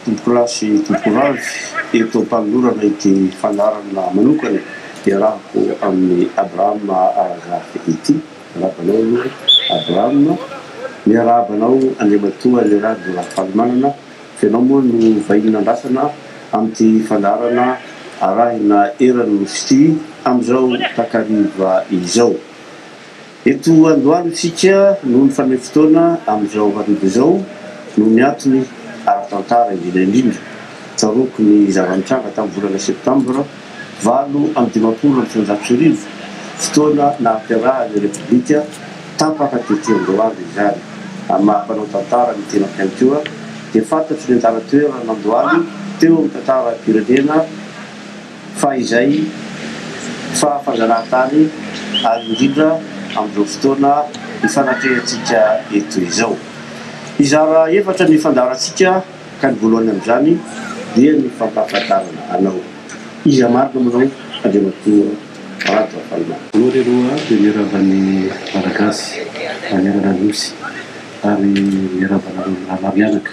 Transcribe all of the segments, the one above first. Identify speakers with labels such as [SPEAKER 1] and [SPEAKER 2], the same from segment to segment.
[SPEAKER 1] Tompokolahy sy tompokovavy, eto am-panolorana ity fandaharana manokana iarahako amin'i Abraham Aragard ity. Miarahaba anao aloha Abraham. Miarahaba anao Andriamatoa Lerado Ravalomanana, fa ianao moa no vahiny nandrasana amin'ity fandaharana arahina eran'ny Nosy ity, amin'izao takariva izao. Eto androany isika no nifameno fotoana amin'izao hariva izao noho ny antony ara-tantara indrindra indrindra. Tsaroako ny zava-nitranga tamin'ny volana septambra valo amby dimampolo amby sivinjato sy arivo, fotoana nahaterahan'ny Repoblika tapaka tetỳ Andohalo izany. Amin'ny maha mpanao tantara ny tenako ihany koa, dia fantatro ny anjara toeran'Andohalo teo amin'ny tantaram-pirenena. fa izay fa fanzarantany ary indrindra amin'izao fotoana ifanatrehantsika eto izao. Hizara efatra ny fandaharantsika ka ny voalohany amin'izany dia ny fampahafantarana anao iza marina moa ianao Andriamatoa Rajaonarimampianina. Anao re aloha dia
[SPEAKER 2] miarahaba ny Malagasy manerana ny Nosy ary miarahaba anareo mirahalahy mianaka.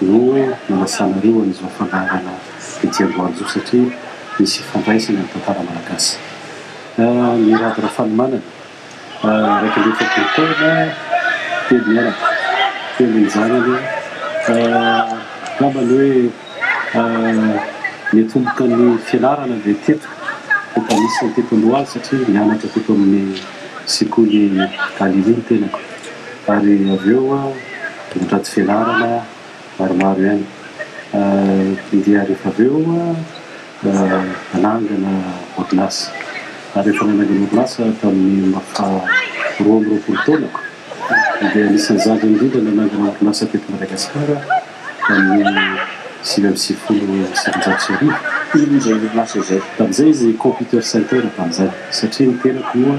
[SPEAKER 2] no nanasanareo an'izao fandaharana ety Andohajo satria misy ifandraisany amin'ny tantara malagasy. Mirado Rafanomanana, iraika amby efapolo taona, telo mianaka, telo ny zanany, angamba ny hoe niatomboka ny fianarana dia teto, teto Anisa, teto Andohajo satria nianatra teto amin'ny sekoly Galilée ny tenako ary avy eo Mitady velarana maromaro ihany dia rehefa avy eo hanangana orinasa. Ary efa nanangana orinasa tamin'ny maha roa amby roapolo taona dia anisan'ny zandriny indrindra nanangana orinasa teto Madagasikara tamin'ny sivy amby sivifolo sy sivinjato sy arivo. Inona izay orinasa
[SPEAKER 1] izay? Tamin'izay izy computer
[SPEAKER 2] center tamin'izany satria ny tenako moa.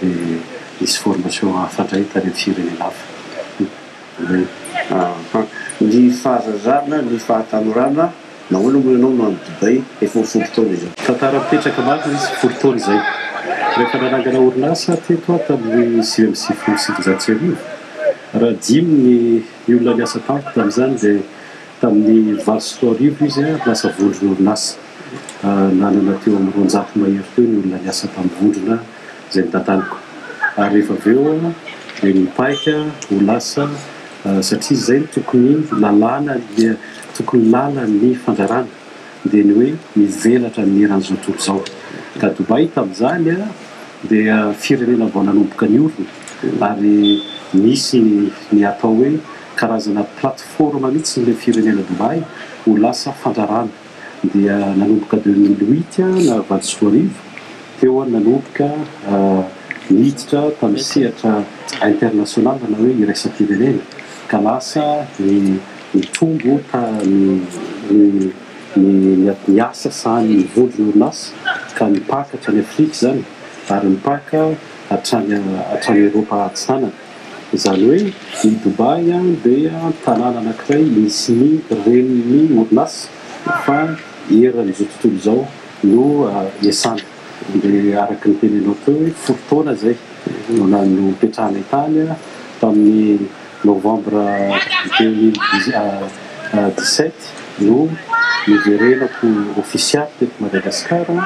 [SPEAKER 2] dia hisy formation hafa indray tany amin'ny firenena hafa.
[SPEAKER 1] Ny fahazazana, ny fahatanorana, nahoana moa ianao no any Dubai efa ho folo taona izao? Tantara mipetraka marina
[SPEAKER 2] izy, folo taona izay. Rehefa nanangana orinasa aho teto aho tamin'ny sivy amby sivifolo sy sivinjato sy arivo, raha dimy ny ny olona niasa tamiko tamin'izany dia tamin'ny valo sy roa arivo izy lasa vondron'orinasa. Nanana teo amin'ny roanjato mahery teo ny olona niasa tamin'ny vondrona izay notantaniko. Ary rehefa avy eo dia nipaika ho lasa satria izay no tokony lalàna, tokony lalan'ny fandraràna dia ny hoe mivelatra amin'ny eran'izao tontolo izao. Ka Dubaï tamin'izany dia firenena vao nanomboka niorina ary nisy ny atao hoe karazana plateforme mihitsy ilay firenena Dubaï ho lasa fandraràna. dia nanomboka deux mille huit na valo sy roa arivo teo aho nanomboka niditra tamin'ny sehatra international na hoe iraisam-pirenena ka lasa ny nitombo ny asa sahany ny vondrona orinasa ka nipaka hatrany afrika izany ary nipaka hatrany Eropa atsinanana. Izany hoe i Dubaï dia tanàna anankiray misy ny renin'ny orinasa fa eran'izao tontolo izao no iasana. Dia araka ny tenenao teo hoe folo taona izay no nipetrahanay tany tamin'ny novambra deux mille dix-sept no niverenako ofisialy teto Madagasikara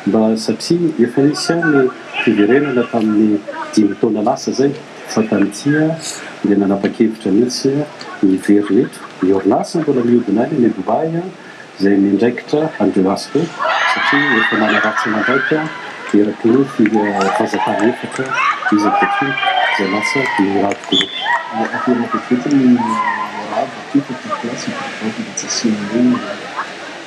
[SPEAKER 2] mba satria efa nisy ihany ny fiverenana tamin'ny dimy taona lasa izay fa tany Tia dia nanapa-kevitra mihitsy ny hiverina eto. Ny orinasa mbola mihodina any any Dubaï izay miandraikitra an'ireo asa ireo satria efa manaratsy aman-draika eraky ny fanjakana efatra izy ankehitriny izay lasa Murad Group. Ateraka eto ny Murad Africa Top Class
[SPEAKER 3] Ecoresort mba tsy asiana hoe.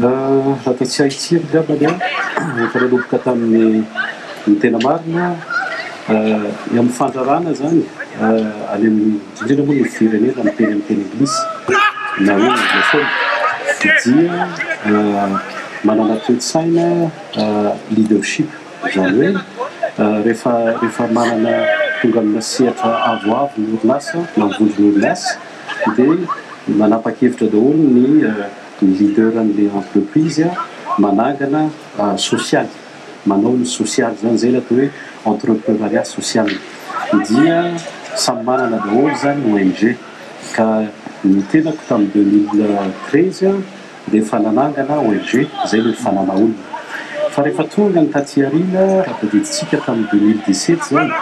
[SPEAKER 2] Raha dia tsy ahitsiry ngambany aho, efa nanomboka tamin'ny ny tena marina, ny amin'ny fandrarana izany any amin'ny, indrindra moa ny firenena miteny amin'ny teny anglisy na hoe anglophone, dia manana toe-tsaina leadership, izany hoe rehefa rehefa manana, tonga amina sehatra avoavo ny orinasa na ny vondron'orinasa dia manapa-kevitra daholo ny. Ny leader anle entreprise managana social, manao ny social zany, zay ilay atao hoe entreprenariat social, dia samy manana daholo zany ny ong, ka ny tenako tamin'ny deux mille treize dia efa nanangana ong, izay ilay nifanana olona, fa rehefa tonga ny taty aoriana, raha tadidintsika tamin'ny deux mille dix sept zany,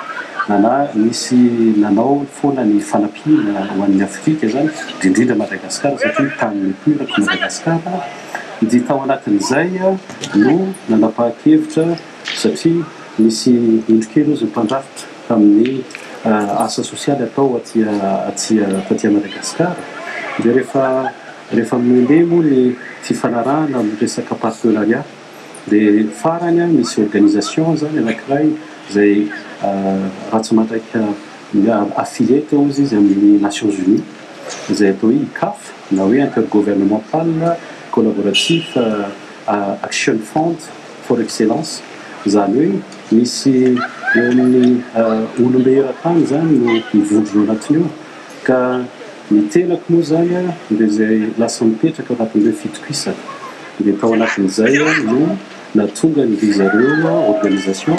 [SPEAKER 2] nanà, nisy nanao foana ny fanampiana ho an'ny. Politika izany indrindra Madagascar satria tany nitoerako Madagascar dia tao anatin'izay no nanapahakevitra satria nisy indro kely ozy ny mpandrafitra tamin'ny asa sosialy atao aty aty taty Madagascar dia rehefa rehefa mende moa ny fifanarahana amin'ny resaka partenariat Dia farany an, misy organisation zany anakiray izay raha tsy mandraika affilié teo izy izy amin'ny Nations Unies izay atao hoe ICAF na hoe Intergouvernemental Collaboratif Action Front for Excellence, izany hoe misy eo amin'ny olom-be eran-tany izany no mivondrona ao anatiny ao. Ka ny tenako moa izany dia izay lasa nipetraka anatin'ireo fitokisana. Dia tao anatin'izay no nahatongan-dry zareo organisation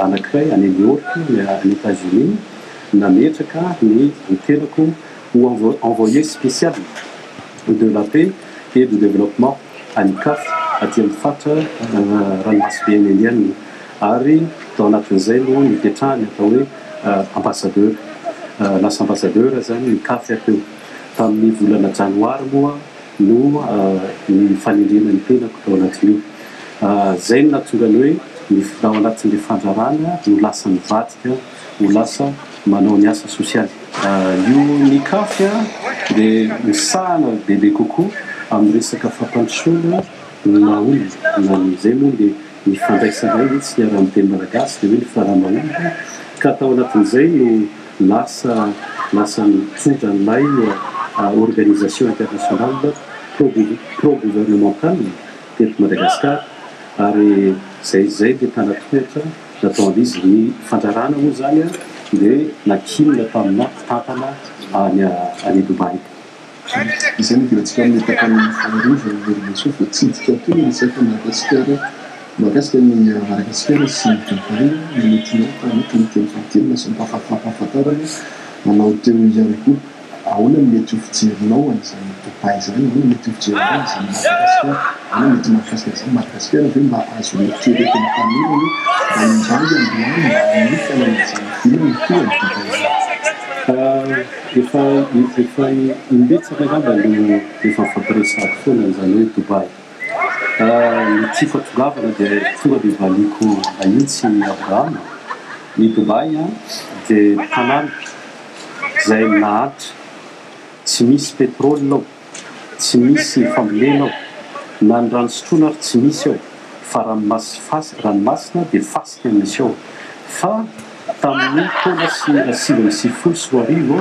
[SPEAKER 2] anankiray any New York, any Etazonia, nametraka ny tenako ho envoyé spécial de la paix et du développement. any Ikafy, aty amin'ny faritra Ranomasoben'i Indiana, ary tao anatin'izay no nipetrahany atao hoe Ambassadeur. Lasa Ambassadeur izany i Ikafy aty teo. Tamin'ny volana Janoary moa no ny fanendrena ny tenako tao anatin'io. Izay no nahatonga ny hoe ny ao anatin'ilay fandrarana no lasa nivadika. ho lasa manao ny asa sosialy. Io ny caf dia misahana bebe kokoa amin'ny resaka fampandrosoana ny maha olona na ny izay moa dia ny fandraisanay mihitsy ny arahin'ny teny malagasy dia hoe ny fara maha olona ka tao anatin'izay no lasa lasa nitondra an'ilay organisation internationale pro gouvernementale teto Madagasikara ary izay izay dia tana tohatra Nataon' izy ny fandrarana moa izany dia nankinina tamina mpitantana any any Dubai.
[SPEAKER 3] Izay no diantsika amin'ny tapany faharoa izay Ramasoa voatsidika aty ny resaka Madagasikara mahakasika ny Madagasikara sy Dubai nometinao taloha teny fahatelo lasa mampahafantarina anao teo ihany koa. Ahoana no mety ho fijerinao an'izany Matapahy izany? Ahoana no mety ho fijerinao an'izany Madagasikara? Ahoana no mety ho mahakasika an'izany Madagasikara? Ve mba azo eritreretin'ny tanora hoe mba indray androany mba hanomboka anan'izany vinany koa ny Dubaï izany? Efa, efa imbetsaka angamba no efa fampiresahako foana an'izany hoe Dubaï. Ny tsy fahatongavana dia tonga dia valiako ahintsy Abrahama, ny Dubaï dia tanàna izay naharitra, tsy misy pétrole ao, tsy misy fambolena ao, na ny rano sotroina ary tsy misy ao fa ranomasina dia fasika no misy ao fa Tamin'ny taona sivy amby sivy folo sy roa arivo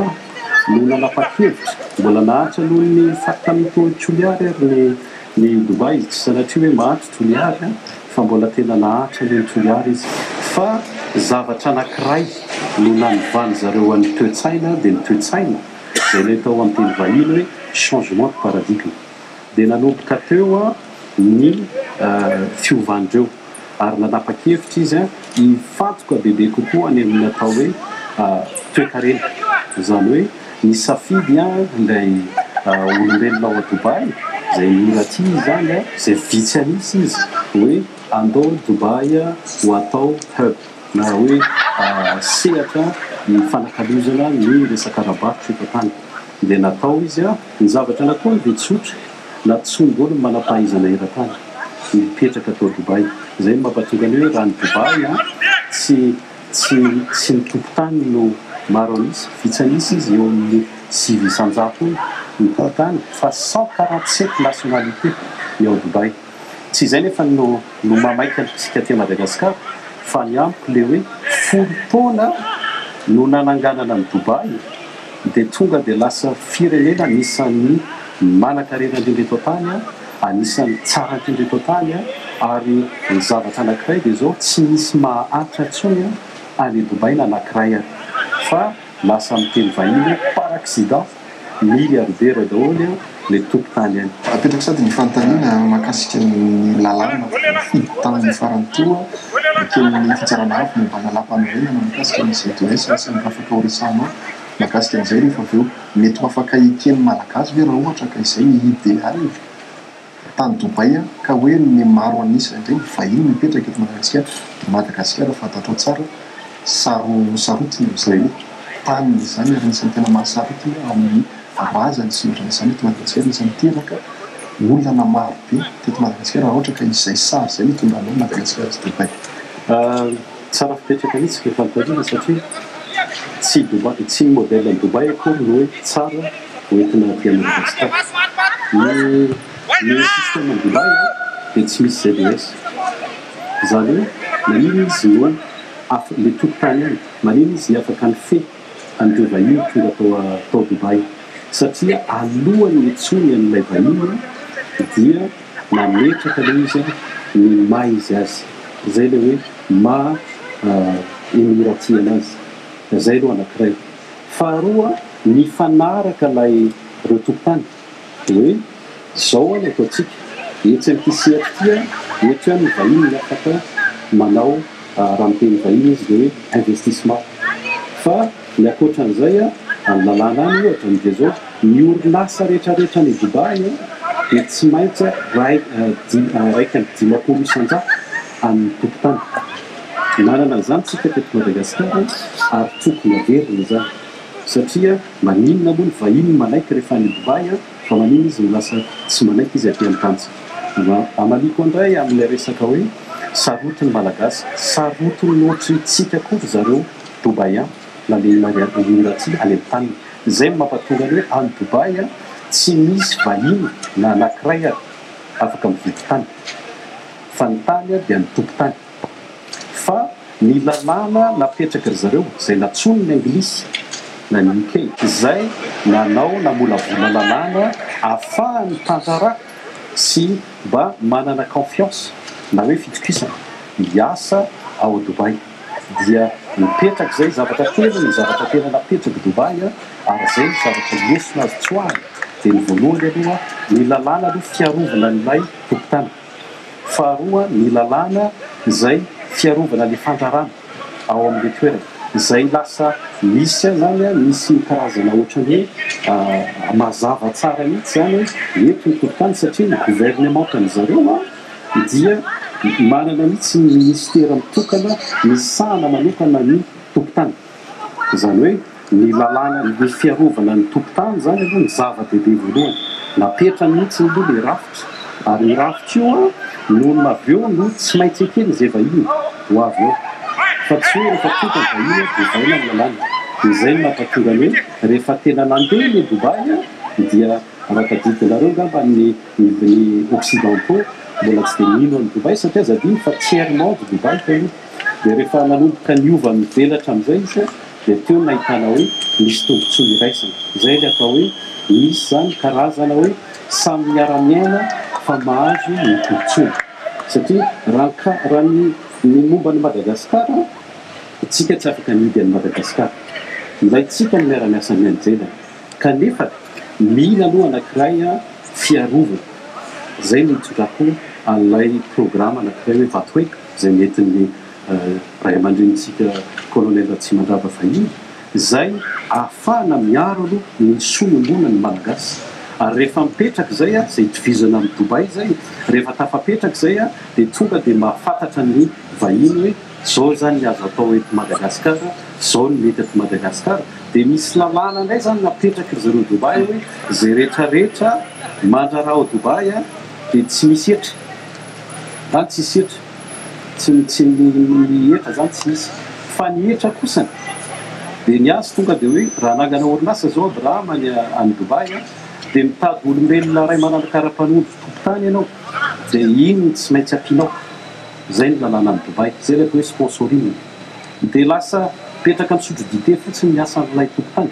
[SPEAKER 3] no nanapa-kevitra, mbola naharitra noho ny faritany Tony Toliary ary ny ny Dubai izy, tsy sanatria hoe maty Toliary fa mbola tena naharitra noho ny Toliary izy fa zavatra anankiray no nanivanin-dry zareo an'ny toe-tsaina dia ny toe-tsaina izay ilay tao amin'ny teny vahiny hoe changement de paradigme. dia nanomboka teo
[SPEAKER 2] ny fiovandreo ary nanapa-kevitra izy hifantoka bebe kokoa any amin'ny atao hoe toekarena, izany hoe nisafidy ilay olombelona ao Dubaï, izay mora tia izany, izay vitsy an'isa izy, hoe andao Dubaï ho atao hub na hoe sehatra hifanakalozana ny resaka ara-barotra eto an-tany, dia natao izy. Ny zavatra nataony dia tsotra, natsongo ny manam-pahaizana eran-tany mipetraka tao Dubaï. Izay no mampatonga ny hoe raha ny Dubaï an, tsy, tsy, tsy ny tompon-tany no maro an'isa, vitsy an'isa izy, eo amin'ny sivy isan-jato eo ny tompon-tany, fa cent quarante sept nationalités ny ao Dubaï. Tsy izay nefa no no maha maika antsika aty Madagasikara fa ny amiko le hoe folo taona no nananganana an'i Dubaï dia tonga dia lasa firenena anisan'ny manankarena indrindra eto an-tany, anisan'ny tsara indrindra eto an-tany ary ny zavatra anankiray dia izao tsy misy maha Atra intsony any Dubaï na anankiray ary fa Lasa amin'ny teny vahiny hoe par accident, milliardaire daholo le tompon-tany any. Apetrako sady ny fanontaniana
[SPEAKER 4] mahakasika ny lalàna voafidy tamin'ny farany toa eken'ny Fitsarana Avo momba ny Lalàmpanorenana mikasika ny ZES sy ny rafitra ho resahanao mahakasika an'izay rehefa avy eo. Mety ho afaka eken'ny Malagasy ve raha ohatra ka izay ny ideal? tany Dubaï ka hoe ny maro an'isa indray ny vahiny mipetraka eto Madagasikara, dia Madagasikara fantatrao tsara saro sarotiny amin'izany taniny izany ary anisan'ny tena mahasarotiny amin'ny razany sy ny ohatran'izany eto Madagasikara, anisan'ny niteraka olana maro be teto Madagasikara raha ohatra ka izay sary izay no tonga anao Madagasikara sy Dubaï.
[SPEAKER 2] Tsara fipetraka mihitsy ve fanontaniana satria tsy Dubai tsy ny modèle an'i Dubai akory no hoe tsara ho entina aty à Madagascar. Ny ny système an'i Dubai dia tsy misy ZES. Izany hoe maninona izy no af le tokotany any maninona izy ny afaka nifehy an'ireo vahiny tonga tao a tao Dubai satria alohan'ny hitsoiny an'ilay vahiny dia nametraka ilay izy an, ny maha izy azy, izay ilay hoe maha i Mira tia anazy, izay aloha anankiray, faharoa mifanaraka ilay ireo tompotany hoe izao an no ataontsika, etsy amin'ity sehatra ity an, eto ihany ny vahiny no afaka manao, raha miteny vahiny izy dia hoe investissement fa. Ny ankoatra an'izay, amin'ny lalàna any ohatra, ny dia izao, ny orinasa rehetrarehetra any Dubaï dia tsy maintsy ray iraika amby dimampolo isan-jato amin'ny tokontany. Nanana an'izany isika teto Madagasikara ary tokony haverina izany satria maninona moa ny vahiny manaiky rehefa any Dubaï fa maninona izy no lasa tsy manaiky izy aty amin'ny tanintsika. Hamaliako indray amin'ilay resaka hoe sarotin'ny Malagasy, sarotin'ny ohatrintsika koa ry zareo. Dubai an! Nandeha i Maria Elvira tsy any am taniny! Zay no mampatonga ny hoe any Dubai an! Tsy misy vahiny na anakiray ary afaka mividy tany! Fa ny tany an dia ny tompon-tany! Fa ny lalàna napetraky ry zareo zay natsonin' ny anglisy na ny UK! Zay nanao namolavola lalàna afahan' ny tantara sy mba manana confiance na hoe fitokisana hiasa ao Dubai! dia mipetraka izay zavatra telo ny zavatra tena napetrako Dubaï ary izay ny zavatra lesona azo tsoahina dia ny voalohany aloha ny lalàna aloha fiarovana an'ilay tompon-tany faharoa ny lalàna izay fiarovana ny fandrarana ao amin'ilay toerana izay lasa misy ahy izany an misy ny karazana ohatran'ny hoe mazava tsara mihitsy izany hoe eto ny tompon-tany satria ny governemantan'izareo an dia manana mihitsy ny minisitera mitokana misahana manokana ny tompon-tany. Izany hoe ny lalàna, ny fiarovana ny tompon-tany izany aloha ny zava-dehibe voalohany. Napetrany mihitsy aloha ilay rafitra, ary io rafitra io no avy eo no tsy maintsy eken'izay vahiny ho avy ao, fa tsy hoe rehefa tonga ny vahiny dia vaina ny lalàna. Dia izay no nampatonga ny hoe rehefa tena nandeha ilay Dubaï dia, raha tadidinareo angamba ny. Ny occidentaux mbola tsy dia mino an'i Dubaï satria aza adino fa tiers monde Dubaï taloha. Dia rehefa nanomboka niova mivelatra amin'izay izy dia teo no nahitana hoe nisy tombotsoa iraisana. Izay ilay atao hoe misy izany karazana hoe samy miara-miaina fa mahazo ny tombotsoany. Satria raha raha ny ny momba an'i Madagasikara isika tsy afaka mihidy an'i Madagasikara. Ilaintsika ny miara-miasa mianjelana. kanefa mila aloha anakiray fiarovana zay
[SPEAKER 3] no itondrako an'ilay programa anakiray hoe Vatoeko izay nentin'ny Ray aman-drenintsika Colonel Ratsimandrava fahiny izay ahafahana miaro aloha ny soa iombonan'ny Malagasy ary rehefa mipetraka izay izay itovizana amin'i Dubaï izay rehefa tafapetraka izay dia tonga dia mahafantatra ny vahiny hoe Zao zany ny azo atao eto Madagascar, zao ny mety eto Madagascar, dia misy lalàna ndray zany napetraky ry zareo Dubaï hoe zay rehetra rehetra mandrara ao Dubaï dia tsy misy hetra, any tsisy hetra, tsy tsy ny hetra zany tsy hisy, fa ny hetra kosany dia ny azy tonga dia hoe raha anangana orinasa zao Abraham any any Dubaï dia mitady olombelona ray manana karapanondro tompon-tany ianao dia iny no tsy maintsy ampianao. Zay ny lalàna any Dubai. Zay ilay atao hoe sponsoring. Dia lasa mipetraka misotro dite fotsiny ny asan'ilay tompon-tany.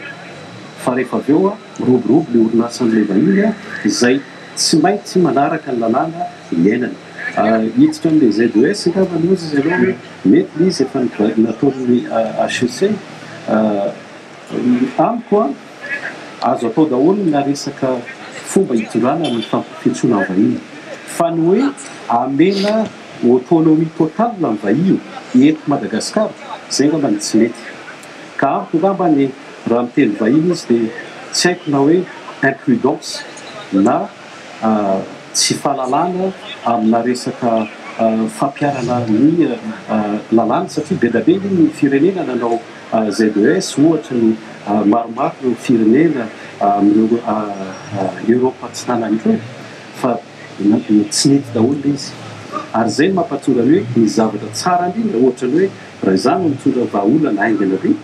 [SPEAKER 3] Fa rehefa avy eo, miroborobo ny orinasan'ilay vahiny izay tsy maintsy manaraka ny lalàna niainany. Hiditra amin'ilay ZES angamba hoy izy ireo hoe mety ilay izy efa nataon'ny HEC. Amiko an! Azo atao daholo na resaka fomba hitondrana ny fampirotsoana ny vahiny. Fa ny hoe amena autonomie totale ny vahiny eto Madagascar zay ngamba ny tsy mety. Ka amiko ngamba ny raha miteny vahiny izy de tsy haiko na hoe imprudence na tsy fahalalana amina resaka fampiharana ny lalàna satria be da be ny firenena nanao AZES ohatra no maromaro ireo firenena amin'ireo Europe Atsinanana ireo fa tsy nety daholo ilay izy ary izay no mampahatonga ny hoe ny zavatra tsara indrindra ohatra ny hoe raha izaho no mitondra vahaolana haingana be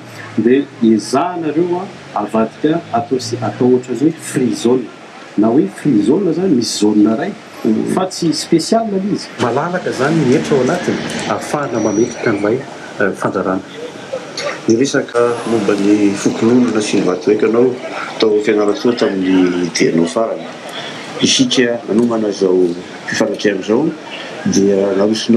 [SPEAKER 3] dia ezahanareo avadika atao atao ohatra ny hoe free zone na hoe free zone izany misy zone iray Fa tsy special le izy. Malalaka zany ny hetra ao anatiny ahafahana mametraka an'ilay fandrarana.
[SPEAKER 1] Niresaka momba ny fokonolona sy ny vatoeka anao tao Fianarantsoa tamin'ny dianao farany. Isika nanomana izao fifanatrehan'izao dia narosonao.